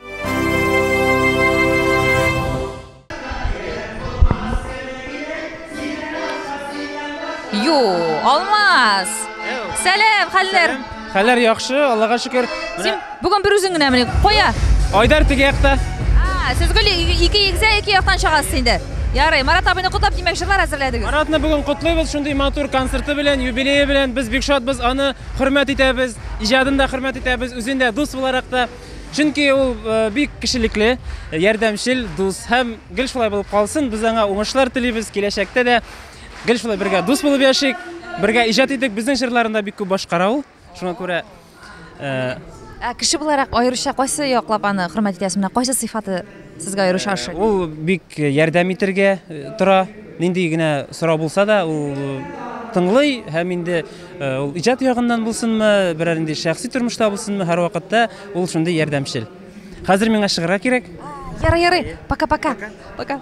Ю, Алмаз. Сәлам, хәлләр. Хәлләр яхшы, Аллага шөкер. Син бүген бер үзең генә мени куя. Айдар теге якта. А, сез гөл ике егзә ике яктан чыгасыз инде. Ярый, Марат абыйны котлап димәк җырлар әзерләдегез. Маратны бүген котлыйбыз шундый матур концерты белән, юбилее белән. Без бик шатбыз, аны хөрмәт итәбез, иҗатын да хөрмәт итәбез, үзен дә дус буларак та. Чөнки ул бик кешелекле, ярдәмчел, дус һәм гел шулай булып калсын. Без аңа уңышлар телибез, киләчәктә дә гел шулай бергә дус булып яшик, бергә иҗат итик. Безнең җырларны да бик күп башкара ул. Шуңа күрә Ә кеше буларак аеруча кайсы яклап аны хөрмәт итәсез? Менә кайсы сыйфаты Сезгә аеруча ошый. Ул бик ярдәм итергә тора. Нинди генә сорау булса да, ул тыңлый һәм инде ул иҗат ягыннан булсынмы, берәр инде шәхси тормышта булсынмы, һәрвакытта ул шундый ярдәмчел. Хәзер миңа чыгарга кирәк. Ярый, ярый. Пока-пока. Пока.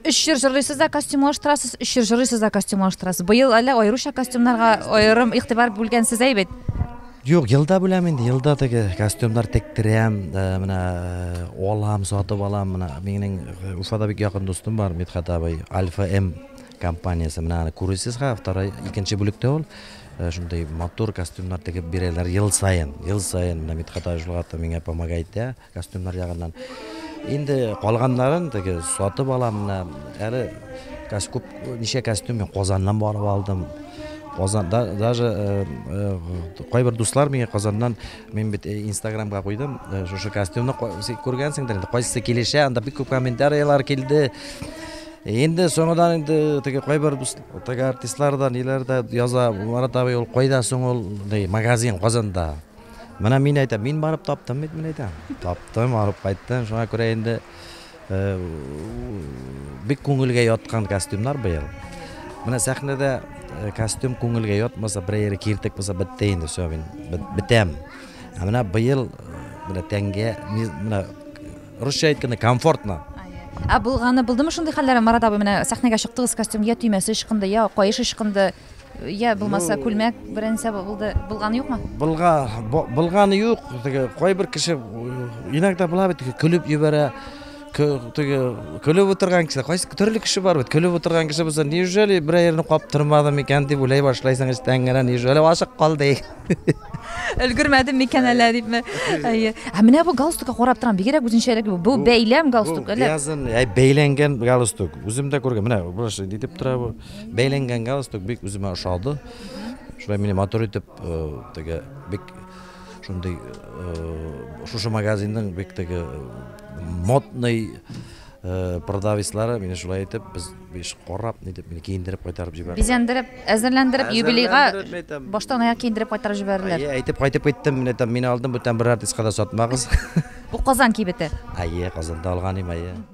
Өч җыр җырлыйсыз да костюмлаштырасыз, өч җыр җырлыйсыз да костюмлаштырасыз. Быел әллә аеруча костюмнарга аерым игътибар бүлгәнсез әй бит? Юк, елда бүләм инде, елда теге костюмнар тектерәм, э, менә э, алам, сатып алам, менә минем э, Уфада бик якын дустым бар, Мидхат абый, Альфа М компаниясе, менә аны күресез ха, второй, икенче бүлектә ул, э, шундый матур костюмнар тегеп бирәләр ел саен, ел саен, менә Мидхат абый шул хакта миңа помогает, Костюмнар ягыннан. Инде калганнарын теге сатып алам менә. Әле күп ничә костюм мин Казаннан барып алдым. Казан да, даже э, э, кайбер дуслар миңа Казаннан мин бит э, инстаграмга куйдым шушы костюмны күргәнсеңдер инде кайсы килешә анда бик күп комментариялар килде Инде соңыдан инде теге кайбер теге артистлардан ниләрдә яза Марат абый ул кайда соң ул магазин Казанда Менә мин әйтәм, мин барып таптым бит, мин әйтәм. Таптым, алып кайттым. Шуңа күрә инде э, бик күңелгә яткан костюмнар быел. Менә сәхнәдә э, костюм күңелгә ятмаса, берәйре киртек булса бетте инде, все, мин бетәм. Ә менә быел э, менә тәнгә, менә русча әйткәндә комфортно. Ә булганы булдымы шундый хәлләр? Марат абый менә сәхнәгә чыктыгыз, костюм я төймәсе ычкынды, я каеш ычкынды. Я булмаса күлмәк беренче булды булганы юкмы? Булга булганы юк. Теге кайбер кеше иногда була бит көлеп җибәрә. Теге көлеп утырган кеше, кайсы төрле кеше бар бит. Көлеп утырган кеше булса, неужели бер аерны каптырмадым икән дип уйлай башлайсың эчтән генә, неужели ашык калды. Өлгермәдем микән әллә дипме? Әйе. Ә менә бу галстукка карап торам, бигрәк үзенчәлек бу. Бу бәйләм галстук әллә? Язын, бәйләнгән галстук. Үзем дә күргән. Менә бу шундый дип тора бу. Бәйләнгән галстук бик үземә ошады. Шулай мине матур итеп теге бик шундый шушы магазинның бик теге модный продавецлары мине шулай итеп без биш карап нитеп мине киендереп кайтарып җибәрде. Бизәндереп, әзерләндереп юбилейга баштан аяк киендереп кайтарып җибәрделәр. Әйе, әйтеп кайтып киттем, менә там мине алдым, бүтән бер артистка да сатмагыз. Бу Казан кибете. Әйе, Казанда алган идем, әйе.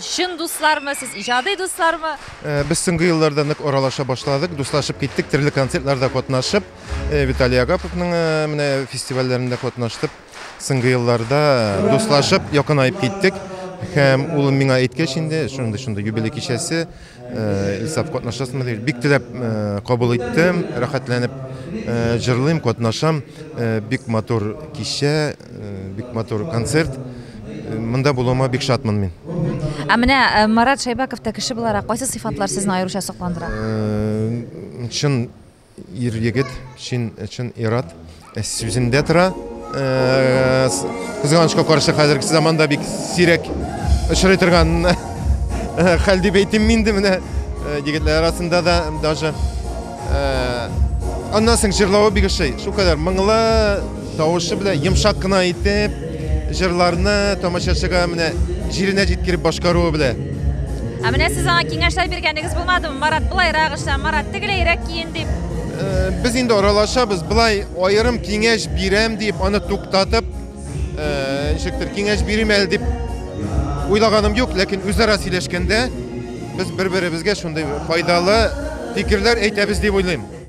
Чын дуслармы сез, иҗади дуслармы? Э, без соңгы елларда нык аралаша башладык, дуслашып киттек, төрле концертларда катнашып, э, Виталий Агаповның э, менә фестивальләрендә катнаштып, соңгы елларда дуслашып, якынаеп киттек. Һәм улым миңа әйткәч инде, шундый шундый юбилей кичәсе, Исәп катнашасымы дип бик теләп кабул иттем, рәхәтләнеп җырлыйм, катнашам. Бик матур кичә, бик матур концерт. Монда булуыма бик шатмын мин. Ә менә Марат Шәйбәков та кеше буларак кайсы сыйфатлар сезне аеруча сокландыра? Чын Ир-егет, чын ир-ат эз сүзендә тора. Кызганычка каршы, хәзерге заманда бик сирәк очрый торган хәл дип әйтим мин инде менә егетләр арасында да даже аннан соң җырлавы бик ошый. Шулкадәр моңлы, Тавышы белән йомшак кына итеп, җырларны тамашачыга менә җиренә җиткереп башкаруы белән. Ә менә сез аңа киңәшләр биргәнегез булмадымы? Марат, былайрак эшлә, Марат, тегеләйрәк киен дип. Э, без инде аралашабыз, былай аерым киңәш бирәм дип, аны туктатып, э, ничектер киңәш бирим әле дип уйлаганым юк, ләкин үзара сөйләшкәндә без бер-беребезгә шундый файдалы фикерләр әйтәбез дип уйлыйм.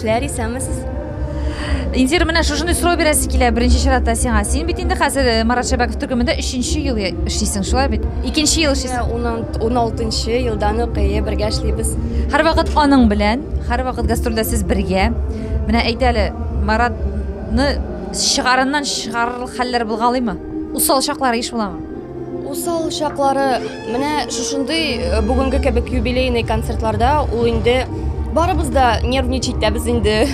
эшләр исәнмесез Индира менә шушындай сорау бирәсе килә беренче чиратта сиңа син бит инде хәзер э, марат шәбәков төркемендә өченче ел эшлисең шулай бит икенче ел эшлисең он алтынчы елдан ук әйе бергә эшлибез һәрвакыт аның белән һәрвакыт гастрольдә сез бергә Менә әйт әле, Маратны чыгарыннан чыгарырлык хәлләр булгалыймы? Усал чаклары еш буламы? Усал чаклары менә шушындый э, бүгенге кебек юбилейный концертларда ул инде барыбыз да нервничать та без инде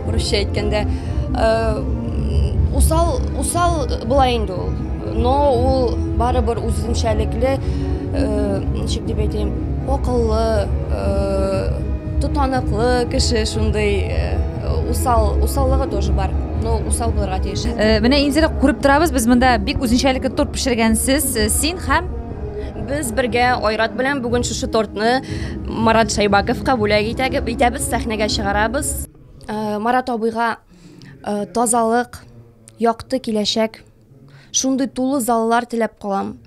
русча әйткәндә. Э, усал усал була инде ул. Но ул барыбер үзенчәлекле, э, ничек дип әйтәм, акыллы, Тотаныклы кеше шундый усал, усаллыгы тоже бар. Ну, усал булырга тиеш. Менә инде күреп торабыз, без монда бик үзенчәлекле торт пешергәнсез. Син һәм без бергә Айрат белән бүген шушы тортны Марат Шайбаковка бүләк итәгеп итәбез, сәхнәгә чыгарабыз. Марат абыйга тазалык, якты киләчәк Шундый тулы заллар теләп калам.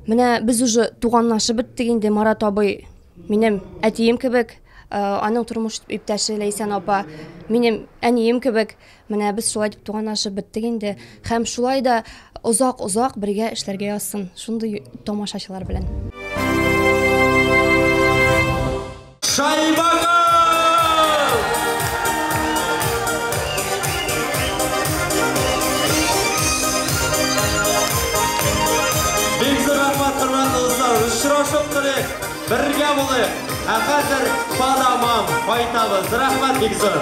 Менә без уже туганлашып беттек инде Марат абый. Минем әтием кебек, э, аның тормыш иптәше Ләйсән апа, минем әнием кебек. Менә без шулай дип туганлашып беттек инде. Һәм шулай да озак-озак бергә эшләргә язсын. Шундый тамашачылар белән. Шайбага! Очрашып торыйк, бергә булыйк. Ә хәзер падамам, кайтабыз. Рәхмәт бик зур.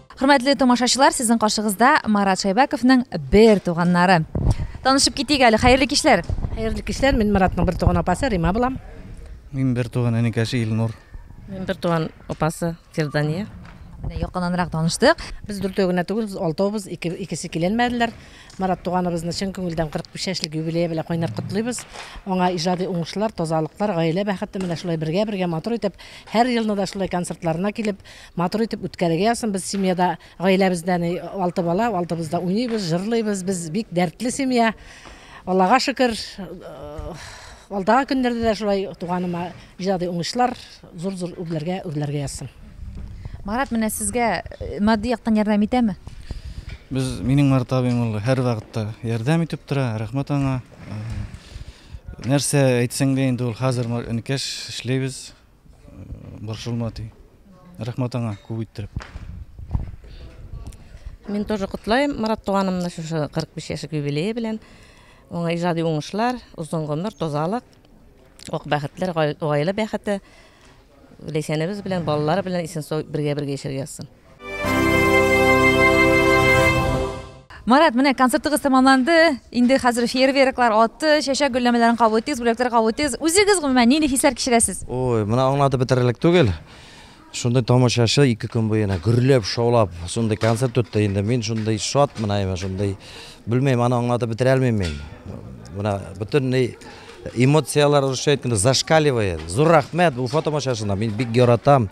Хөрмәтле тамашачылар, сезнең каршыгызда Марат Шәйбәковның бер туганнары. Танышып китик әле. Хәерле кичләр. Хәерле кичләр. Мин Маратның бер туган апасы Рима булам. Мин бер туган энекәше Илнур. Мин бер туган апасы Фирдания. Менә якыннанрак таныштык. Без дүртәү генә түгел, без алтаубыз, ике, икесе киләлмәделәр. Марат туганыбызны чын күңелдән 45 яшьлек юбилее белән кайнар котлыйбыз. Аңа иҗади уңышлар, тазалыклар, гаилә бәхете менә шулай бергә-бергә матур итеп, һәр елны да шулай концертларына килеп, Матур итеп үткәрергә язсын. Без семьяда, гаиләбездә әни алты бала, алтыбыз да уйныйбыз, җырлыйбыз. Без бик дәртле семья. Аллага шөкер, алдагы көннәрдә дә шулай туганыма иҗади уңышлар, зур-зур үрләргә үрләргә язсын. Марат, менә сезгә матди яктан ярдәм итәме? Без, минем Марат абыем ул һәрвакытта ярдәм итеп тора, рәхмәт аңа. Нәрсә әйтсәң дә инде ул хәзер энекәш эшлибез. Борчылма ди. Рәхмәт аңа күп иттереп. Мин тоже котлаем Марат туганымны шушы 45 яшьлек юбилее белән. Уңа иҗади уңышлар, озын гомер, тазалык, ак бәхетләр, гаилә бәхете. Ләйсәнебез белән, балалары белән исән-сау бергә-бергә яшәргә язсын. Марат, менә концертыгыз тәмамланды. Инде хәзер фейерверклар атты, чәчәк гөлләмәләрен кабул итегез, бүләкләр кабул итегез. Үзегез гомумән нинди хисләр кичерәсез? Ой, менә аңлатып бетерерлек түгел. Шундый тамашачы ике көн буена гөрләп, шаулап, шундый концерт үтте инде. Мин шундый шат менә, шундый белмим, аны аңлатып бетерә алмыйм мин. Менә бөтенләй эмоцияләр, русча әйткәндә, зашкаливает. Зур рәхмәт, Уфа тамашачына. Мин бик яратам.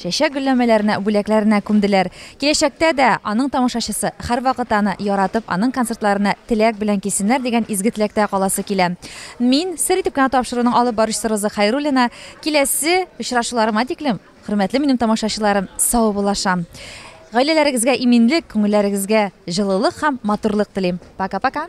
Чәчәк гөлләмәләрне бүләкләренә күмделәр. Киләчәктә дә аның тамашачысы һәрвакыт аны яратып, аның концертларына теләк белән килсеннәр дигән изге теләктә каласы килә. Мин, сер итеп кенә тапшыруның алып баручысы Роза Хәйруллина, киләсе очрашуларыма тиклем, хөрмәтле минем тамашачыларым, саубуллашам. Гаиләләрегезгә иминлек, күңелләрегезгә җылылык һәм матурлык телим. Пока-пока!